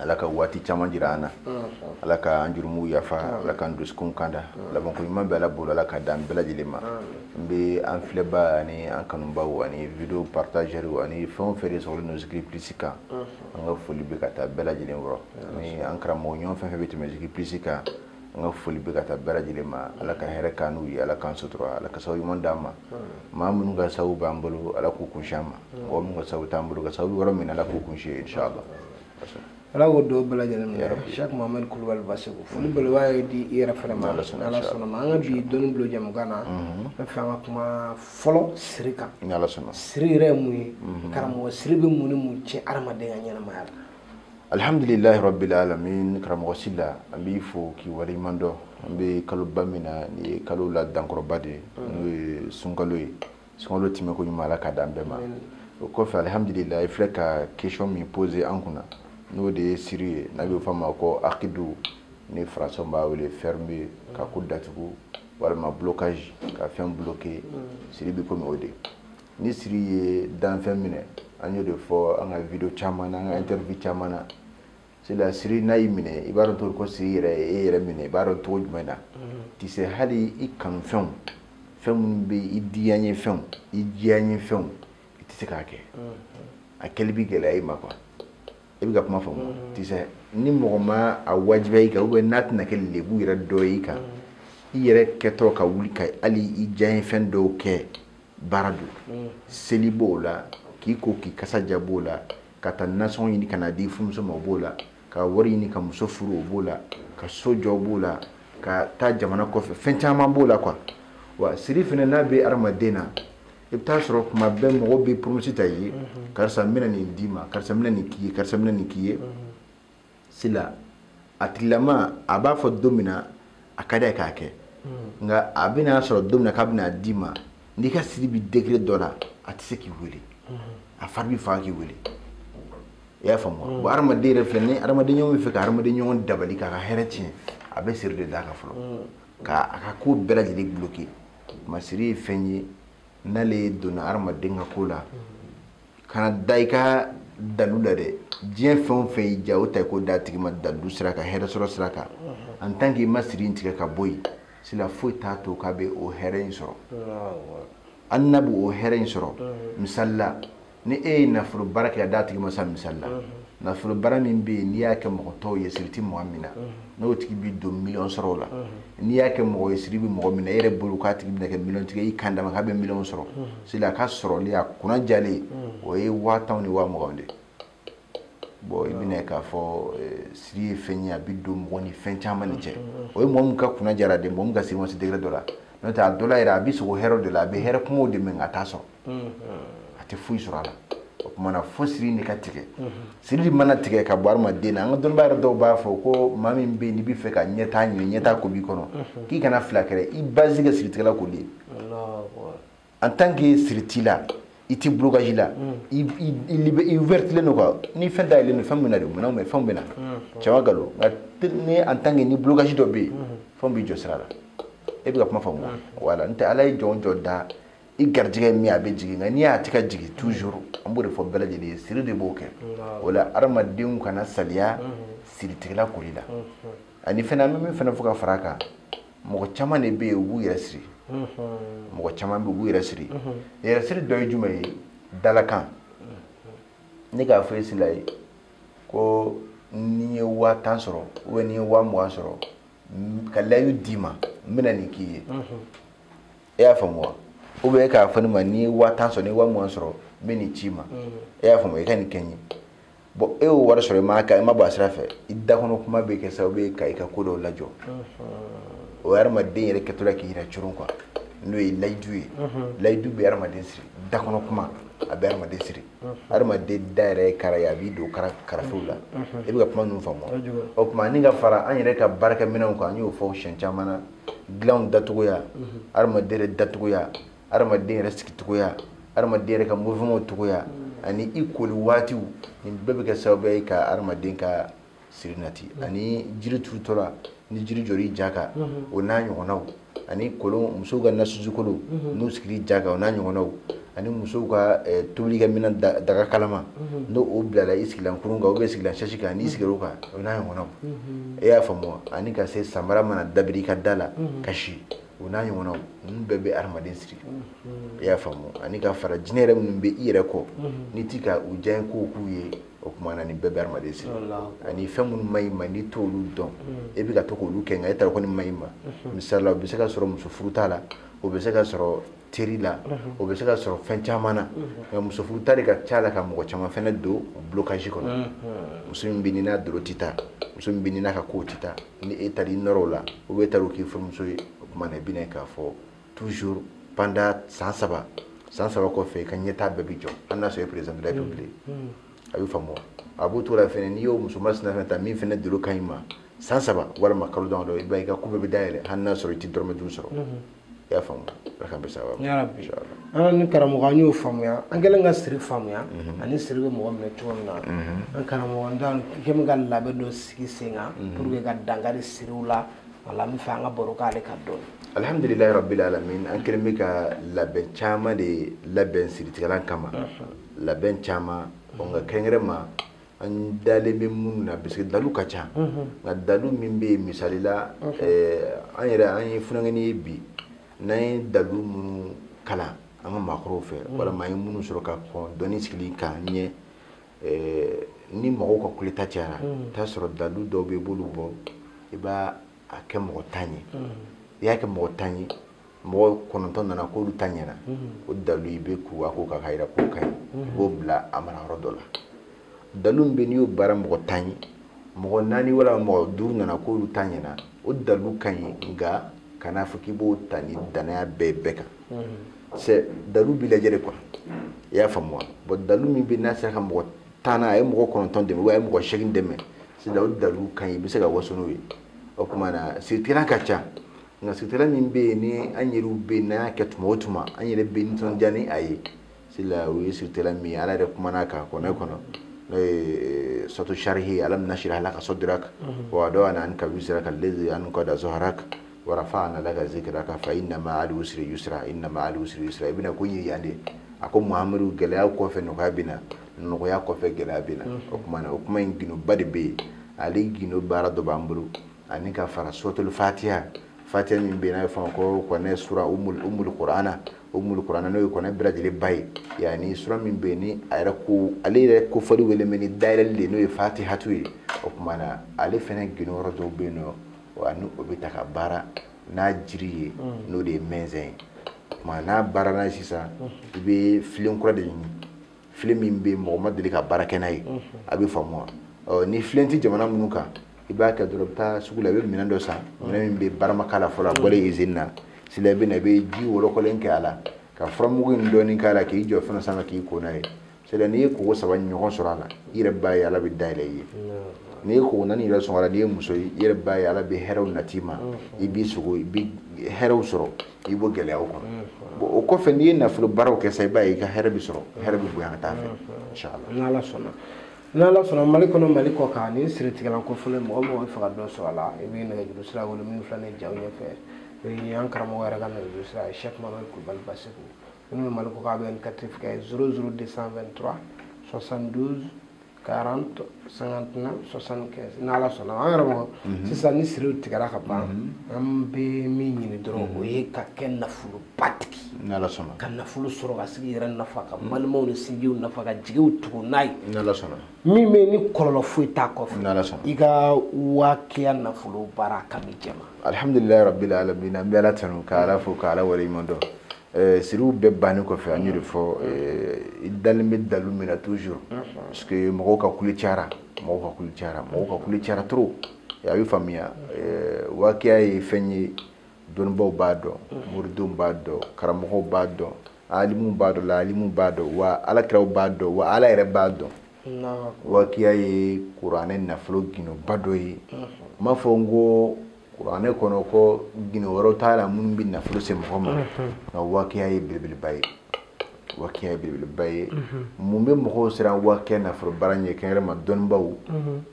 ala ka waati caman jira an na ala ka an jurumuw yafa ala ka an dusukun kanda labanko ɲuman bɛ ala bolo ala k'a d'an bɛɛ lajɛlen ma n bɛ an filɛba ani an kanubaw ani video partageurw ani fɛn o fɛn de sɔrɔlen don zikiri plus kan an ka foli bɛ ka taa bɛɛ lajɛlen yɔrɔ ni an karamɔgɔ ɲɔgɔn fɛn o fɛn bɛ tɛmɛ zikiri plus kan an ka foli bɛ ka taa bɛɛ lajɛlen ma ala ka hɛrɛ k'an n'u ye ala k'an sutura ala ka sababu ɲuman d'an ma maa minnu ka sababu b'an bolo ala k'u kunsin an ma mɔgɔ minnu ka sababu t'an bolo ka sababu yɔrɔ min ala k'u kunsin yen inshallah ala k'o d'u bɛɛ lajɛlen ma shek mohamɛd kulubali basegu foli belebeleba ye di i yɛrɛ fana ma ala sɔnna ma an ka bi dɔnni bulon jɛmukan na n fɛ an ka kuma fɔlɔ siri kan siri yɛrɛ ye mun ye karamɔgɔ siri bɛ mun ni mun tiɲɛ adamaden ka ɲɛnamaya la alihamdulilahi rabbil alamin karamɔgɔ sila an b'i fo k'i waleɲuman dɔn an bɛ kaloba min na nin ye kalo la dankɔrɔba de ye n'o ye sunkalo ye sunkalo tɛmɛko ɲuman ala ka d'an bɛɛ ma o kɔfɛ alihamdulilahi i filɛ ka question min poser an kunna n'o de ye siri ye n'a bɛ fɔ a ma ko akidu ni français b'a wele fermer ka ko datugu walima blocage ka fɛn bloquer siri bɛ komi o de ni siri ye danfɛn minɛ an y'o de fɔ an ka video caman na an ka interview caman na sila siri n'a y'i minɛ i b'a dɔn cogo ko siri yɛrɛ y'e yɛrɛ minɛ i b'a dɔn cogo jumɛn na i tɛ se hali i kanufɛnw fɛn minnu bɛ i diyaɲe fɛnw i diyaɲe fɛnw i tɛ se k'a kɛ a kɛli bɛ gɛlɛya i ma quoi i bɛ ka kuma faamu mm-hmm. i tɛ se ni mɔgɔ ma a wajibiya i kan ou bien n'a tɛna kɛ lebu yɛrɛ dɔ ye i kan mm-hmm. i yɛrɛ kɛtɔ ka wuli ka hali i diyaɲe fɛn dɔw kɛ baara don mm. seli b'o la k'i ko k'i kasa ja b'o la ka taa nasɔngɔ ɲini ka n'a di furumuso ma o b'o la ka wari ɲini ka muso furu o b'o la ka so jɔ b'o la ka taa jamana kɔfɛ fɛn caman b'o la quoi wa siri fana n'a bɛ adamaden na i bɛ taa sɔrɔ kuma bɛɛ mɔgɔw bɛ promesse ta i ye mm-hmm. karisa n bɛna nin d'i ma karisa n bɛna nin k'i ye karisa n bɛna nin k'i ye mm-hmm. sila a tigilama a b'a fɔ don min na a ka d'a ye k'a kɛ hmm. nka a bɛna sɔrɔ don min na k'a bɛna d'i ma n'i ka siri bɛ degré dɔ la a tɛ se k'i wele hmm. a fari bɛ faga k'i wele i y'a faamu hmm. bon hadamaden yɛrɛ filɛ ni hadamaden ɲɔgɔn b'a fɛ ka hadamaden ɲɔgɔn dabali k'a ka hɛrɛ tiɲɛ a bɛ siri de d'a kan fɔlɔ ka a ka ko bɛɛ lajɛlen bloquer mais siri ye fɛn ye n'ale donna hadamaden ka ko la kana da i ka dalu la dɛ diɲɛ fɛn o fɛn y'i diya o ta i k'o d'a tigi ma dalu sira kan hɛrɛ sɔrɔ sira kan en tant que i ma siri in tigɛ ka bɔ yen sila foyi t'a to k'a bɛ o hɛrɛ in sɔrɔ hali n'a bɛ o hɛrɛ in sɔrɔ misali la ni e ye nafolo baara kɛ ka d'a tigi ma sa misali la nafolo baara min bɛ yen n'i y'a kɛ mɔgɔ tɔw ye siri tɛ mɔgɔ min na n'o tigi bɛ don miliyɔn sɔrɔ o la n'i y'a kɛ mɔgɔ ye siri bɛ mɔgɔ min na e yɛrɛ bolo k'a tigi bɛna kɛ miliyɔn tigi kan dama k'a bɛ miliyɔn sɔrɔ seli a ka sɔrɔli a kunna jalen o ye waa tan ni waa mugan de bon i bɛna k'a fɔ siri ye fɛn ye a bɛ don mɔgɔ ni fɛn caman ni cɛ o ye mɔgɔ min ka kunna jara de mɔgɔ min ka siri ma se degré dɔ la n'o tɛ a dɔ yɛrɛ a bɛ sɔrɔ hɛrɛ de la a bɛ hɛrɛ kumaw de mɛn ka taa so a tɛ foyi sɔrɔ a la o tuma na fo siri de ka tigɛ sirili mana tigɛ ka bɔ adamaden na an ka dɔnnibaa yɛrɛ dɔw b'a fɔ ko maa min bɛ yen n'i bɛ fɛ ka ɲɛtaa ɲini ɲɛtaa ko b'i kɔnɔ k'i kana fila kɛrɛ i base kɛ siritigɛla ko de ye en tant que siri t'i la i tɛ blocage la i ouvertilen don quoi ni fɛn dayɛlɛlen don fɛn bɛ na de mun na mɛ fɛnw bɛ na caman galo nka ni en tant que ni blocage dɔ bɛ yen fɛnw b'i jɔ sira la e bɛ ka kuma faamu wa wala n tɛ ala ye jɔn o jɔn da i garijɛgɛ min a bɛ jigin nka ni a tɛ ka jigin toujours an b'o de fɔ bɛɛ lajɛlen ye siri de b'o kɛ o la adamadenw kana saliya siritigɛla koli la ani fana an bɛ min fana fɔ ka fara a kan mɔgɔ caman de bɛ yen u b'u yɛrɛ siri mɔgɔ caman bɛ yen u b'u yɛrɛ siri yɛrɛ siri dɔ ye jumɛn ye dalakan ne k'a fɔ e sila ye ko n'i ye waa tan sɔrɔ ou bien n'i ye waa mugan sɔrɔ ka layidu d'i ma n bɛna nin k'i ye e y'a faamu wa ou bien e k'a fɔ ne ma n'i ye waa tan sɔrɔ n'i ye waa mugan sɔrɔ n bɛ nin c'i ma e y'a faamu i ka nin kɛ n ye bon e y'o wari sɔrɔ i ma ka i ma bɔ a sira fɛ i dakɔnɔ kuma bɛ kɛ sababu ye ka i ka ko dɔw lajɔ o ye adamaden yɛrɛ kɛtɔla k'i yɛrɛ coron quoi n'o ye layidu ye layidu bɛ adamaden siri dakɔnɔ kuma a bɛ adamaden siri adamaden da yɛrɛ ye kara ye a b'i don kara karafew la e bɛ ka kuma ninnu faamu o tuma ani ka fara an yɛrɛ ka baarakɛminɛnw kan an y'o fɔ siɲɛ caman na dilanw dacogoya hadamaden yɛrɛ dacogoya hadamaden yɛrɛ sigicogoya hadamaden yɛrɛ ka mouvement cogoya ani i koli waatiw nin bɛɛ bɛ kɛ sababu ye ka hadamaden ka siri nati ani jiri turutɔla ni jiri jɔr'i ja kan o n'a ɲɔgɔnnaw ani kolon musow ka nasusu kolon n'u sigir'i ja kan o n'a ɲɔgɔnnaw ani musow ka eh, tobilikɛminɛn daga kalama mhm. n'o o bilala i sigilan kurun kan ou bien sigilan sɛsi kan n'i mhm. sigir'o kan o n'a ɲɔgɔnnaw mhm. e y'a faamu ani ka se samara mana dabiri i ka da la ka si o n'a ɲɔgɔnnaw ninnu bɛɛ bɛ adamaden siri e y'a faamu ani ka fara jinɛ yɛrɛ minnu bɛ i yɛrɛ kɔ n'i ti ka u diya kow k'u ye o tuma na nin bɛɛ bɛ adamaden siri ani fɛn minnu man ɲ'i ma n'i t'olu dɔn e bɛ ka to k'olu kɛ nka e t'a dɔn ko nin man ɲ'i ma misali la o bɛ se ka sɔrɔ muso furuta la o bɛ se ka sɔrɔ teri la o bɛ se ka sɔrɔ fɛn caman na nka muso furuta de ka ca la ka mɔgɔ caman fana don blocage kɔnɔ muso min bɛ n'a dolo tɛ taa muso min bɛ n'a ka ko tɛ taa ni e taara i nɔrɔ o la ou bien e taara o k'i furumuso ye o tuma na i bɛn'a ye k'a fɔ toujours pendant san saba san saba kɔfɛ i ka ɲɛtaa bɛɛ bɛ jɔ hali n'a sɔrɔ e président de la république a bɛ faamu a b'o to la fana n'i y'o muso masina fana ta min fana dolo ka ɲi i ma san saba walima kalo damadɔ i b'a ye i ka ko bɛɛ bɛ dayɛlɛ hali n'a sɔrɔ i tɛ dɔrɔmɛ duuru sɔrɔ i y'a faamu ala k'an bɛn sababu ma yarabi an ni karamɔgɔ an y'o faamuya an kɛlen ka siri faamuya mhm. ani siri bɛ mɔgɔ minɛ cogo min na mhm. an karamɔgɔ an t'an kɛlen bɛ ka labɛn dɔ sigi sen kan mhm. pour que ka dankari siriw la wala an b'a fɛ an ka baro k'ale kan dɔɔni alhamdulilayi rabbil alamin an kɛlen bɛ ka labɛn caman de labɛn siritigɛlan kama labɛn caman nka kɛrɛnkɛrɛn ma an dalen bɛ minnu na parce que dalu ka ca nka dalu min bɛ yen misali la an yɛrɛ an ye funankɛni ye bi n'an ye dalu minnu kalan an ka maakɔrɔw fɛ walima an ye minnu sɔrɔ ka kɔn dɔnni sigili k'a ɲɛ ni mɔgɔw ka kuleta cayara i t'a sɔrɔ dalu dɔw bɛ i b'olu bɔ i b'a a kɛ mɔgɔ tan ye i y'a kɛ mɔgɔ tan ye mɔgɔ kɔnɔntɔn nana k'olu ta ɲɛna o dalu i bɛ k'u a k'o ka k'a yira k'o ka ɲi i b'o bila a mara yɔrɔ dɔ la dalu min bɛ n'i y'o baara mɔgɔ tan ye mɔgɔ naani walima mɔgɔ duuru nana k'olu ta ɲɛna o dalu ka ɲi nka kan'a fɔ k'i b'o ta ni dannaya bɛɛ bɛɛ kan c'est dalu bɛ lajɛ de quoi i y'a faamu wa bon dalu min bɛ n'a sera ka mɔgɔ tan na a ye mɔgɔ kɔnɔntɔn dɛmɛ walima a ye mɔgɔ seegin dɛmɛ sisan o dalu ka ɲi i bɛ se ka waso n'o ye o tuma na siritigɛlan ka ca nka siritigɛlan min bɛ yen ni an yɛrɛw bɛ yen n'an y'a kɛ tuma o tuma an yɛrɛ bɛ nisɔndiya ni a ye sila o ye siritigɛlan min ye ala yɛrɛ kumana a kan kuranɛ kɔnɔ n'o ye suratu sarihi alam nashrah laka sadraka wa wada'na anka wizraka alladhi anqada zahraka wa rafa'na laka zikraka fa inna ma'al usri yusra inna ma'al usri yusra i bɛna ko yira yan de a ko muhammadu gɛlɛya kɔfɛ nɔgɔya bɛ na nɔgɔya kɔfɛ gɛlɛya bɛ na o kuma na o kuma in gindoba de bɛ yen ale gindo baara dɔ b'an bolo ani ka fara suratul fatiya fatiya min bɛ n'a bɛ fɔ ko kuranɛ sura umul kurana umul kurana n'o ye kuranɛ bɛɛ lajɛlen ba ye yaani sura min bɛ ni a yɛrɛ ko ale yɛrɛ kofɔli wele bɛ ni dayɛlɛli de n'o ye fatihatu ye o tuma na ale fana gindo yɔrɔ dɔw bɛ yen nɔ wa ni o bɛ ta ka baara n'a jiri ye n'o de ye mɛnzɛn ye o tuma n'a baara n'a ye sisan i bɛ filen kura de ɲini filen min bɛ yen mɔgɔ ma deli ka baara kɛ n'a ye a bɛ faamu wa ɔ ni filen tɛ jamana minnu kan i b'a kɛ dɔrɔn i bɛ taa sugu la i bɛ minɛn dɔ san minɛn min bɛ baara ma k'a la fɔlɔ a bɔlen izini na sila i bɛ na i bɛ ji wɔlɔkɔlen kɛ a la ka furamugu in dɔɔnin k'a la k'i jɔ fɛn sanfɛ k'i ko n'a ye sila n'i ye koko saba ɲɔgɔn sɔrɔ a la i yɛrɛ b'a ye ala bɛ dayɛlɛ i ye n'i ye koko naani yɛrɛ sɔrɔ a la n'i ye muso ye i yɛrɛ b'a ye ala bɛ hɛrɛw nat'i ma i b'i sogo i bɛ hɛrɛw sɔrɔ k'i bɔ gɛlɛyaw kɔnɔ bon o kɔfɛ n'i ye nafolo baaraw kɛ sa i b'a ye i ka hɛrɛ bɛ sɔrɔ hɛrɛ bɛ bonya ka taa fɛ inshallah n'ala sɔnna n'ala sɔnna mali kɔnɔ mali kɔ kan ni siritigɛlan ko fɔlɔ mɔgɔ o mɔgɔ b'a fɛ ka dɔ sɔrɔ a la i bɛ nɛgɛjuru sira wele min filɛ nin jaw ɲɛfɛ o ye an karamɔgɔ yɛrɛ ka nɛgɛjuru sira ye cheikh mamadu kulubali baseku minnu bɛ mali kɔ kan a bɛ indicatif kɛ 00223 72 40 59 75 ni ala sɔnna an karamɔgɔ mhm. sisan ni siriw tigɛra ka ban mhm. an bɛ min ɲini dɔrɔn mhm. o ye ka kɛ nafoloba tigi ka nafolo sɔrɔ ka se k'i yɛrɛ nafa ka balimaw ni sinjiw nafa ka jigiw tugu n'a ye min bɛ ni kɔlɔlɔ foyi t'a kɔfɛ i ka wakiya nafolo baara kami jɛman alhamdulilayi rabbil alamin an bɛ ala tanu ka ala fo ka ala waleɲuman dɔn Eh, siriw bɛɛ bannen kɔfɛ an y'o de fɔ eh, i dalen bɛ dalu min na toujours parce que mɔgɔw ka kule cayara mɔgɔw ka kule cayara mɔgɔw ka kule cayara trop eh, a bɛ faamuya wakiya ye fɛn ye dɔnnibaaw b'a dɔn moridenw b'a dɔn karamɔgɔw b'a dɔn alimuw b'a dɔn laalimuw b'a dɔn wa ala kiraw b'a dɔn wa ala yɛrɛ b'a dɔn wakiya ye kuranɛ nafolo gindoba dɔ ye n m'a fɔ n ko kuranɛ kɔnɔ ko gindo wɛrɛw t'a la minnu bɛ nafolo se mɔgɔ ma nka wakiya ye belebeleba ye wakiya ye belebeleba ye mun bɛ mɔgɔw siran wakiya nafolo baara ɲɛ kɛrɛnkɛrɛn ma dɔnnibaw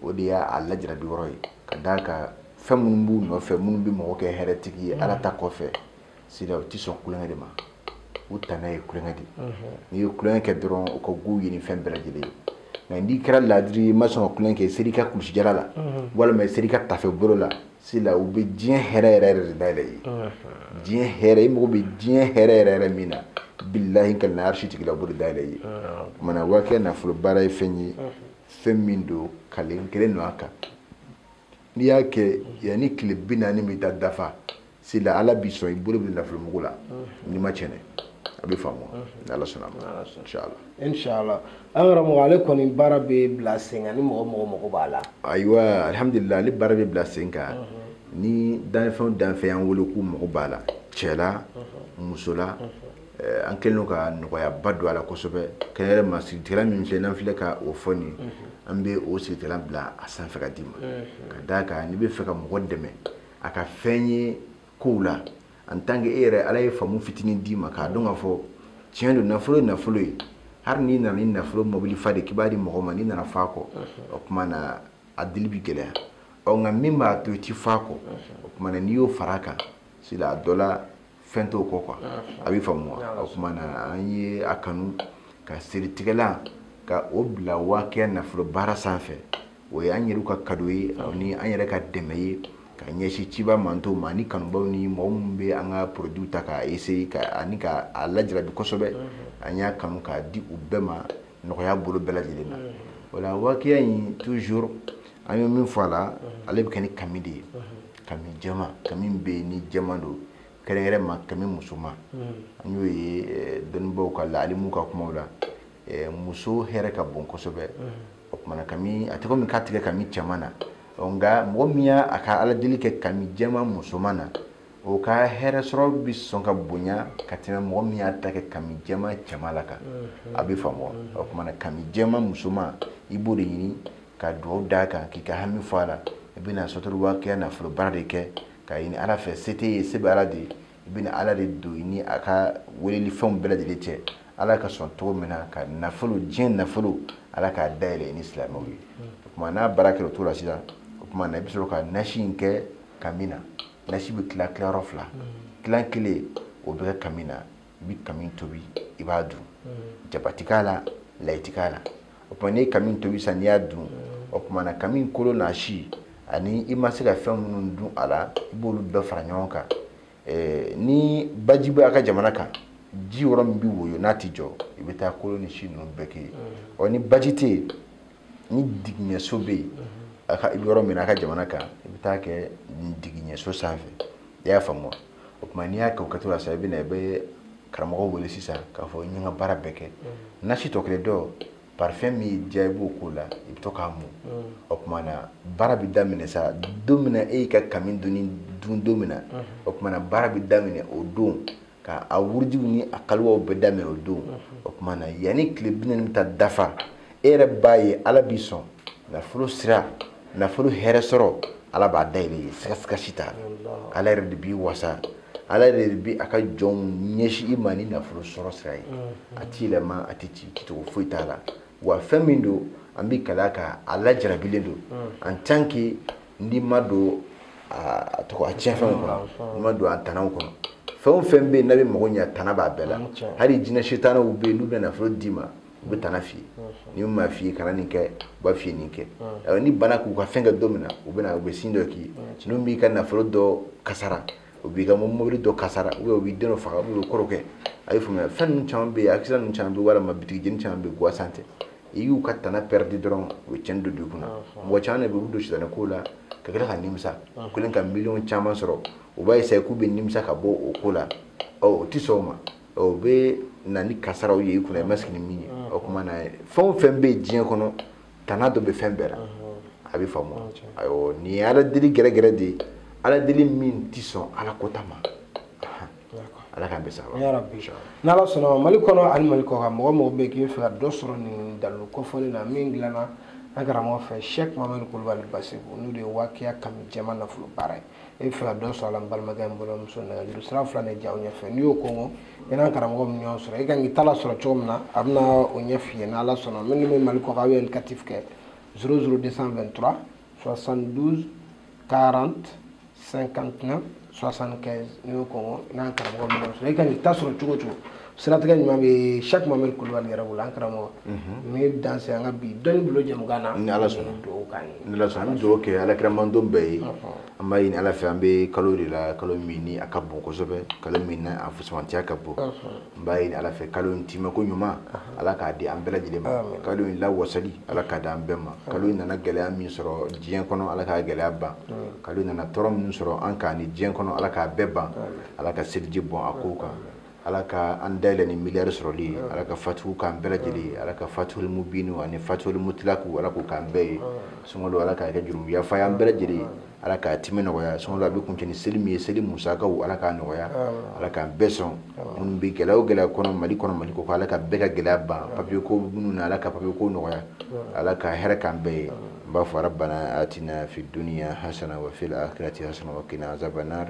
o de y'a lajarabi yɔrɔ ye ka d'a kan fɛn minnu b'u nɔfɛ minnu bɛ mɔgɔ kɛ hɛrɛtigi ye ala ta kɔfɛ sila u tɛ sɔn kulonkɛ de ma u tana ye kulonkɛ de ye n'i ye kulonkɛ kɛ dɔrɔn u ka go i ye ni fɛn bɛɛ lajɛlen ye nka n'i kɛra laadiri ye i ma sɔn ka kulonkɛ kɛ i sera i ka kulusijala la walima i sera i ka tafe bolo la sila u bɛ diɲɛ hɛrɛ yɛrɛ yɛrɛ de dayɛlɛ i ye diɲɛ hɛrɛ i mago bɛ diɲɛ hɛrɛ yɛrɛ yɛrɛ min na bilahi ka na arisi tigila bolo dayɛlɛ i ye o tuma na wakiya nafolo baara ye fɛn ye fɛn min don kalen kɛlen don a kan n'i y'a kɛ yanni tile bi naani bɛ taa dafa sila ala b'i sɔn i bolo bɛ nafolo mugu la n'i m'a tiɲɛ a bɛ faamu ni ala sɔnna ma inshallah inshallah an karamɔgɔ ale kɔni baara bɛ bila sen kan ni mɔgɔ o mɔgɔ mago b'a la ayiwa alhamdulilayi ale baara bɛ bila sen kan ni danfɛn o danfɛn y'an wele k'u mago b'a la cɛ la muso la eh, an kɛlen ka nɔgɔyaba don a la kosɛbɛ kɛrɛnkɛrɛn ma siritigɛlan min filɛ n'an filɛ ka o fɔ nin an bɛ o siritigɛlan bila a sanfɛ ka d'i ma ka d'a kan n'i bɛ fɛ ka mɔgɔ dɛmɛ a ka fiɲɛ kow la en tant que e yɛrɛ ala ye faamu fitinin d'i ma k'a dɔn k'a fɔ tiɲɛ don nafolo ye nafolo ye hali n'i nana ni nafolo mobili fa de k'i b'a di mɔgɔ ma n'i nana f'a kɔ o tuma na a dili bi gɛlɛya ɔ nka min b'a to i ti f'a kɔ o tuma na n'i y'o fara a kan sila a dɔ la fɛn t'o kɔ quoi a bɛ faamu wa o kuma na an ye a kanu ka siritigɛlan ka o bila waakiya nafolo baara sanfɛ o ye an yɛrɛw ka kado ye ani an yɛrɛ ka dɛmɛ ye ka ɲɛsin ciba mantow ma ani kanubaw ni mɔgɔ minnu bɛ an ka produit ta k'a essayer ani ka a lajarabi kosɛbɛ an y'a kanu k'a di u bɛɛ ma nɔgɔya bolo bɛɛ lajɛlen na o la waakiya in toujours an ye min fɔ a la ale bɛ kɛ ni kami de ye kami jɛma kami bɛ yen ni jɛma don kɛrɛnkɛrɛn ma kami musoman an y'o ye eh, dɔnnibaaw ka la alimuw ka kumaw la eh, muso hɛrɛ ka bon kosɛbɛ o tumana kami a tɛ komi k'a ti kɛ kami cɛman na ɔ, nka mɔgɔ min y'a ka ala deli kɛ kami jɛma musoman na o ka hɛrɛ sɔrɔ bɛ sɔn ka bonya ka tɛmɛ mɔgɔ min y'a ta kɛ kami jɛma cɛman la kan a bɛ faamu wa? o tumana kami jɛma musoman i b'o de ɲini ka dugawu d'a kan k'i ka hami fɔ a la i bɛna suratu waakiya nafolobaara de kɛ k'a ɲini ala fɛ se t'i ye se bɛ ala de ye i bɛna ala de don i ni a ka weleli fɛnw bɛɛ lajɛlen cɛ ala ka sɔn cogo min na ka nafolo diɲɛ nafolo ala k'a dayɛlɛ i ni silamɛw ye o tuma n'a baara kɛra o cogo la sisan o tuma na i bɛ sɔrɔ ka nasi in kɛ kami na nasi bɛ tila tilayɔrɔ fila tilan kelen o bɛ kɛ kami na i bɛ kami tobi i b'a dun jaba ti k'a la layi ti k'a la o tuma n'i ye kami tobi sisan n'i y'a dun o tuma na kami kolo n'a si ani i ma se ka fɛn minnu dun a la i b'olu bɛɛ fara ɲɔgɔn kan eh, ni baji bɛ a ka jamana kan ji yɔrɔ min bɛ woyo n'a ti jɔ i bɛ taa kolo ni si ninnu bɛɛ kɛ yen ɔ ni baji tɛ yen ni digiɲɛso bɛ yen i bɛ yɔrɔ min na a ka jamana kan i bɛ taa kɛ digiɲɛso sanfɛ i y'a faamu wa o tuma n'i y'a kɛ o kɛcogo la sisan i bɛna i bɛ karamɔgɔ wele sisan k'a fɔ n ye n ka baara bɛɛ kɛ mm. nasi tɔ kelen dɔ parfum min y'i diya i b'o k'o la i bɛ to k'a mun mm. o tuma na baara bɛ daminɛ sa don min na e y'i ka kami dun don min na mm. o tuma na baara bɛ daminɛ o don ka a wurudiw ni a kaliwaw bɛɛ daminɛ o don o tuma na yanni tile bi naani bɛ taa dafa e yɛrɛ b'a ye ala b'i sɔn nafolo sira nafolo hɛrɛ sɔrɔ ala b'a dayɛlɛ i ye siga si t'a la ala yɛrɛ de b'i wasa ala yɛrɛ de bi a ka jɔnw ɲɛsin i ma ni nafolo sɔrɔ sira ye mm-hmm. a ti yɛlɛma a tɛ ci cogo foyi t'a la wa fɛn min don an bɛ kali a kan a lajarabilen don mm. en tant que n'i ma don a tiɲɛfɛnw kɔnɔ mm, n'i ma don a tanaw kɔnɔ fɛn o fɛn bɛ yen n'a bɛ mago ɲɛ tana b'a bɛɛ la mm, hali jinɛ sitanaw bɛ yen n'u bɛ nafolo d'i ma u bɛ tana f'i ye n'u m'a f'i ye kana nin kɛ u b'a f'i ye nin kɛ awɔ n'i banna k'u ka fɛn kɛ don min na u bɛna u bɛ sin dɔ k'i ye n'u b'i ka nafolo dɔ kasara u b'i ka mobili dɔ kasara ubiyɛn u b'i den dɔ faga ubiyɛn u bɛ ko dɔ kɛ a y'i faamuya fɛn ninnu caman bɛ yen akisidan ninnu caman bɛ yen walima bitigijeni caman bɛ yen gwansan tɛ i y'u ka tana pɛridi dɔrɔn u bɛ tiɲɛni don don i kunna mɔgɔ caman de bɛ yen u bɛ don sitanɛ kow la ka tila ka nimisa u kɛlen ka miliyɔn caman sɔrɔ u b'a esaye k'u bɛ nimisa ka bɔ o ko la ɔ u tɛ sɔn o ma o bɛ na ni kasaraw ye i kunna i ma sigi ni min ye o kuma na fɛn o fɛn bɛ diɲɛ kɔnɔ tana dɔ bɛ fɛn bɛɛ la a bɛ faamu ayiwa nin ye ala deli gɛrɛgɛrɛ de ye ala deli min tɛ sɔn ala kota ma ala k'an bɛɛ sa n'ala sɔnna mali kɔnɔ ani mali kɔkan mɔgɔ o mɔgɔ bɛ k'i fɛ ka dɔ sɔrɔ nin dalilu kofɔlen na min dilanna an karamɔgɔ fɛ sɛk mamadu kulubali basiku n'o de ye wakiya kami jɛma nafolo baara ye e b'a fɛ ka dɔ sɔrɔ a la n balimakɛ n balimamuso nɛgɛjuru sira fila de y'aw ɲɛfɛ n'i y'o kɔnkɔn i n'an karamɔgɔ bɛ ɲɔgɔn sɔrɔ i kan k'i ta la sɔrɔ cogo min na a bɛna o ɲɛ f'i ye n'ala sɔnna minnu bɛ mali kɔkan aw ye indicatif kɛ 00 223 72 40 59 75 n'i y'o kɔnkɔn i n'an karamɔgɔ bɛ ɲɔgɔn sɔrɔ i kan k'i ta sɔrɔ cogo cogo siratigɛ ɲuman bɛ sɛk mamadu kulubali yɛrɛ bolo an karamɔgɔ n b'i danse an ka bi dɔnni bolo jɛmukan na ni ala sɔnna dugawu k'an ye ni ala sɔnna an bɛ dugawu kɛ ala kira mantɔn bɛɛ ye an b'a ɲini ala fɛ an bɛ kalo de la kalo min ni a ka bon kosɛbɛ kalo min na a fusamantiya ka bon n b'a ɲini ala fɛ kalo in timɛ ko ɲuman ala k'a di an bɛɛ lajɛlen ma kalo in lawasali ala k'a di an bɛɛ ma kalo in nana gɛlɛya min sɔrɔ diɲɛ kɔnɔ ala k'a gɛlɛya ban kalo in nana tɔɔrɔ min sɔrɔ an kan nin diɲɛ kɔnɔ ala k'a bɛɛ ban ala ka seliji bɔn a kow kan ala ka an dayɛlɛ ni miliyari sɔrɔli ye ala ka fatuhu k'an bɛɛ lajɛlen ye ala ka fatuhul mubinu ani fatuhul mutilaku ala k'o k'an bɛɛ ye sunkalo ala k'a kɛ jurumu yafa y'an bɛɛ lajɛlen ye ala k'a timɛ nɔgɔya sunkalo a bɛ kuncɛ ni seli min ye seli musakaw ala k'a nɔgɔya ala k'an bɛɛ sɔn minnu bɛ gɛlɛya o gɛlɛya kɔnɔ mali kɔnɔ mali kɔkan ala ka bɛɛ ka gɛlɛya ban papiye ko minnu na ala ka papiye ko nɔgɔya ala ka hɛrɛ k'an bɛɛ ye n b'a fɔ rabbana atina fi duniya hasana wa fil akhirati hasana wa qina azabannar